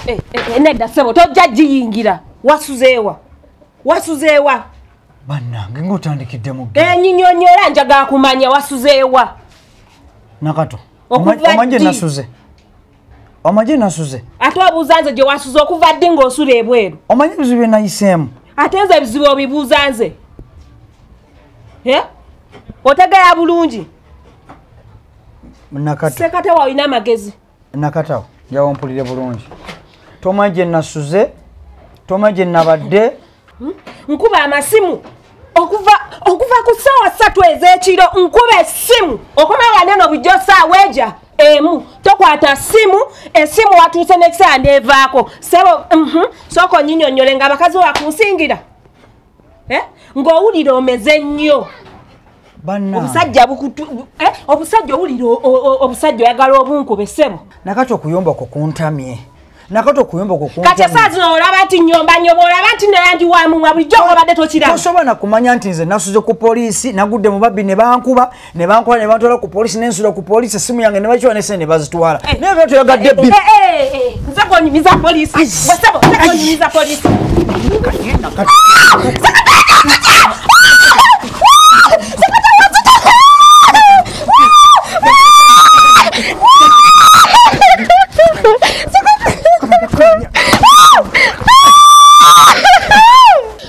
Eh, eh, eh, nedda sebo tojja giyingira wasuzeewa wasuzeewa bannange ngaotandikidde mu enyinyonyola njaga kumanya wasuzeewa nakato omanje nasuze omanje nasuze ate obuuza nze gye wasuze okuva ddi ngaosula ebweru omanye ebizibu byenayiseemu ate nze ebizibu obibuuza nze otegera bulungi nakato sekate wawina amagezi nakatawo njawompulire bulungi toma gye nasuze toma gye nabadde hmm? nkuba amasimu okuva okuva ku ssaawa ssatu ez'ekiro nkuba essimu okomawane no bujjo ssaawa eja emu tokwata simu esimu watuuse nekisaa nevaako sebo mhm, sooka onyinyonyole nga abakazi wakunsingira eh? ng'owulira omeze nnyo obusajja eh? obusajja owulira obusajja oyagala obunkube sebo nakati okuyomba kwo kuntamye nakato kuyomba kukati esaa zino olaba nti nyomba nyoba olaba nti nayandi wamumwa bulijjo obadde tokiraba tosobola nakumanya nti nze nasuze ku poliisi nagudde mu babbi ne bankuba ne bankola ne bantwala ku polisi ne nsula ku polisi essimu yange ne bakiwa ne sente ne bazitwala eh. naye byo toyagadde bbi nze gonyumiza polisi wasebo nze gonyumiza polisi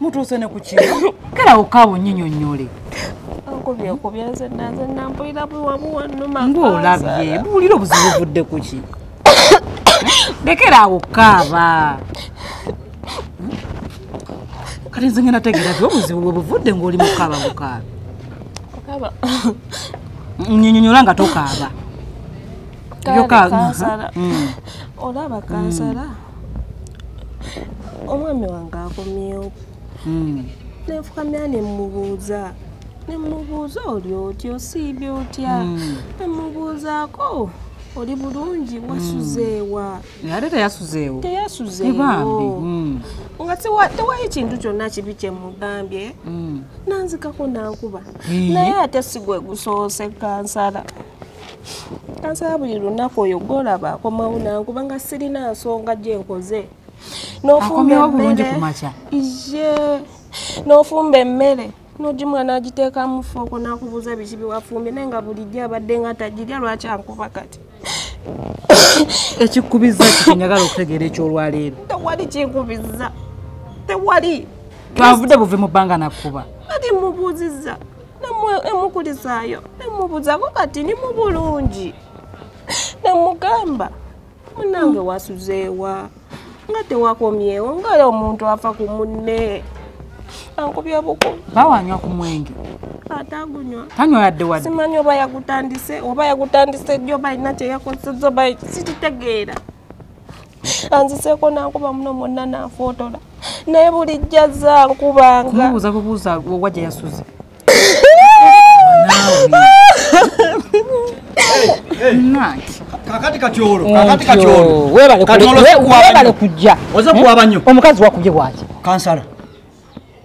mutuuse ne ku kino kale awo kaabo nyinyonnyole ng'olabye buwulira obuzibu buvudde ku ki lekera awo kaaba kati nze ngenda tegeera ti obuzibu bwe buvudde ng'oli mukaaba mukaaba nyinyonyola nga tokaaba yokaaba mm. olaba kansala mm. omwami wange akomyewo hmm. nenfukamira nemubuuza nemubuuza oli oti osiibye otya hmm. nemubuuzaako oli bulungi hmm. wasuzeewa ate teyasuzeewo teyasuzeewo nga tewayo kintu kyonna kibi kyemugambye nanzikako nankuba naye ate sigwe gusoose kansala kansaba buli lunaku oyo gwolaba akomawo nange kubanga sirina nsonga gye nkoze nofumba emmere ye nofumba emmere nogimwana agiteekamu fooko nakubuuza biki biwafumbye naye nga bulijjo abadde nga tagirya lwaki ankuba kati ekikubizza kikinyagala okutegeera ekyolwaleero tewali kinkubizza tewali twavudde buve mu bbanga nakukuba kati mubuuzizza nemukulizaayo nemubuzako kati ni mu bulungi nemugamba munange wasuzeewa nga tewakomyewo ngala omuntu afa ku munne ankubya buku bawanywa ku mwenge atagunywa tanywa yadde wadde simanyi oba yagutandise oba yagutandise jjo balina kyeyakozesa oba sititegeera anziseeko nankuba muno mwonna nanfootola naye bulijjo azze ankubanga kumubuuza bubuuza owa gye yasuze kakati katyolo kakati katyolo webale kujja oze kuwabanyo omukazi wakubye bwaki kansala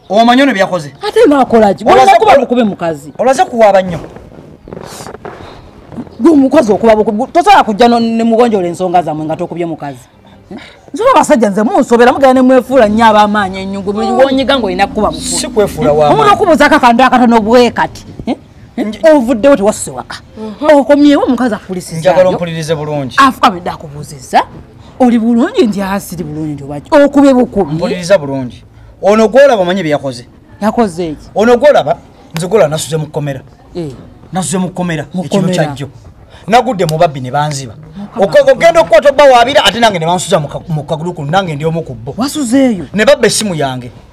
omanyi ono byakoze ate nakolaki olaze kuba bukube mukazi olaze kuwaaba nnyo gwe omukazi okuba bukube tosobola kujja ne mugonjola ensonga zamwe nga tokubye mukazi nsoba abasajja nze munsobera mugenda nemwefuula nnyo abamaanyi enyungu buli wonyiga ngaolina kukuba bukube omuntu okubuuza kakandi akatono bwekati ovuddewo tewasuse waka mhm. okomyewo omukazi akulisizanjagala ompulirize bulungi afukabedde akubuuzizza oli bulungi nti asiri bulungi nti obaki okube bukubi mpuliriza bulungi ono gwolaba omanye byeyakoze yakoze eki ono gwolaba nze gwolaba nasuze mu kkomera eh. nasuze mu kkomera ekiro kyajjo nagudde mu babbi ne banziba ogenda okukwata obba waabira ate nange ne bansuza mu kagulu kuno nange ndi omu ku bbo wasuzeeyo ne babba essimu yange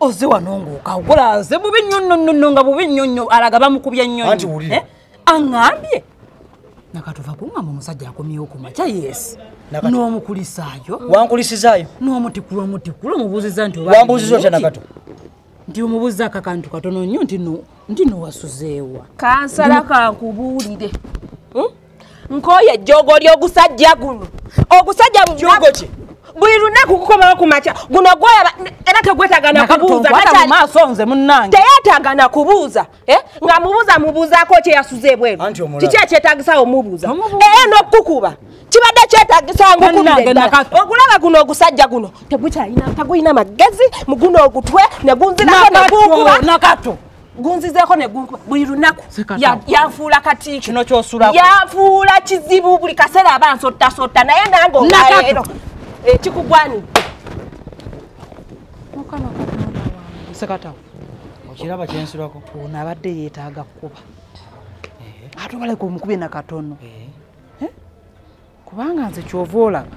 oze wano ng'okawola aze bubi nnyo nno nno nno nga bubi nnyo nnyo alaga bamukubye nnyo anti wulire eh? aŋambye nakatuva kuŋamba omusajja akomyewo ku makya yeesi n'omukulisaayo wankulisizaayo n'omutikulu omutikulu omubuuziza nti wambuuziza otya nakato nti omubuuziza akakantu katono nnyo nti nowasuzeewa kansala kankubuulire hmm? nkooye ejjoogo ly'ogusajja guno ogusajja buli lunaku kukomawo ku makya guno gwolaba era tegwetaga nakubuuzamaaso nze munange teyetaaga nakubuuza eh? nga mubuuza mubuuzaako kyeyasuza ebweru kiki ekyetagisawo mubuuza era n'okukukuba kibadde kyetagisanga okulaba guno ogusajja guno tegukyalina tagulina magezi muguno ogutwe negunzirako negunkuba gunzizeeko ne gunkuba buli lunaku yanfuula kati kino kyosulako yanfuula kizibu buli kaseera aba nsottasotta naye nange olwaleero ekikugwani mukama katonda wange sekatawo okiraba kyensulako ono abadde yeetaaga kukuba eh. ate obaleka omukubye na katono eh. Eh? kubanga nze kyova olaba